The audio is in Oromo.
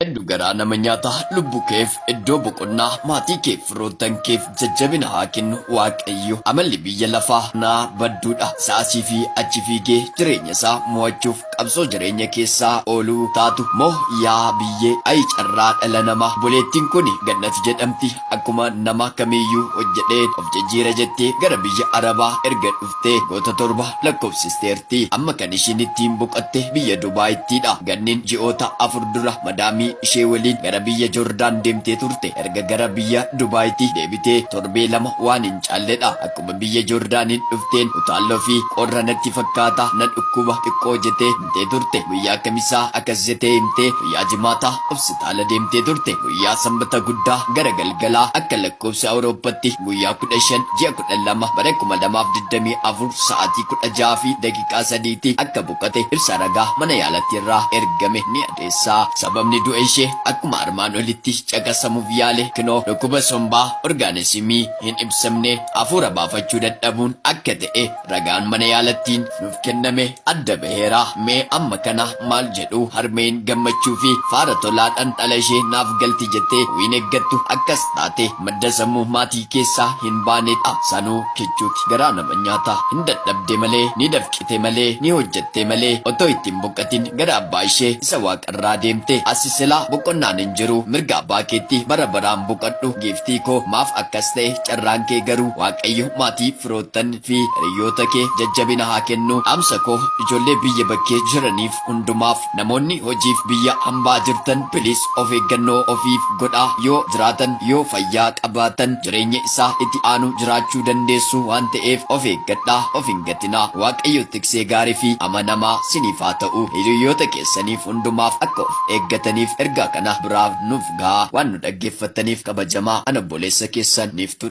Heddu garaa nama nyaata lubbu keef iddoo boqonnaa maatii keef firoottan keef jajjabina haa kennu waaqayyo amalli biyya lafaa kanaa badduudha isa asii fi achi fiigee jireenya isaa mo'achuuf qabsoo jireenya keessaa ooluu taatu moo yaa biyyee ayii carraa dhala namaa obboleettin kuni gannat jedhamti Akkuma namaa kamiiyyuu hojjedheen of jijjiira jettee gara biyya Arabaa erga dhuftee goota torba lakkoofsisteerti. Amma kan ishiin ittiin boqatte biyya Dubaayittiidha. Ganniin ji'oota afur dura madaamii ishee waliin gara biyya Jordaan deemtee turte. Erga gara biyya Dubaayitii deebitee torbee lama waan hin caalledha. Akkuma biyya Joordaaniin dhufteen utaalloo fi qorra natti fakkaata na dhukkuba xiqqoo jetee himtee turte. Guyyaa Kamisaa akas jetee himtee guyyaa Jimaataa hopsitaala deemtee turte. Guyyaa Sanbata guddaa gara galgalaa akka lakkoofsa Awurooppatti guyyaa 15 ji'a 12 bara 2024 sa'aatii 16:03 ti akka boqate ibsa ragaa mana yaalatti irraa ergame ni adeessa. Sababni du'a ishee akkuma armaan olitti caqasamuuf yaale kinoo dhukkuba sombaa, orgaanesimii, hin ibsamne hafuura baafachuu dadhabuun akka ta'e ragaan mana yaalattiin nuuf kenname adda baheera. Mee amma kana maal jedhu? Harmeen gammachuu fi faara tolaadhan dhala ishee naaf galti jettee wiin eggattu akkas taate madda sammuu maatii keessaa hin baane dha. Sanuu kichuuti. Garaa nama nyaata. Hin dadhabde malee, ni dafqite malee, ni hojjatte malee otoo itti hin boqatin gara abbaa ishee isa waaqa. irraa deemte asi silaa boqonnaan hin jiru mirga abbaa keetti bara baraan boqadhu giiftii koo maaf akkas ta'e carraan kee garuu waaqayyo maatii firoottan fi hiriyyoota kee jajjabina haa kennu dhaamsa koo ijoollee biyya bakkee jiraniif hundumaaf namoonni hojiif biyya hambaa jirtan piliis of eeggannoo ofiif godhaa yoo jiraatan yoo fayyaa qabaatan jireenya isaa itti aanu jiraachuu dandeessu waan ta'eef of eeggadhaa of hin gatinaa waaqayyo tiksee gaarii fi amanamaa siniif haa ta'u hiriyyoota keessaniif hundumaaf akka of eeggataniif ergaa kana biraan nuuf gahaa waan nu dhaggeeffattaniif kabajamaa an obboleessa keessan niiftuu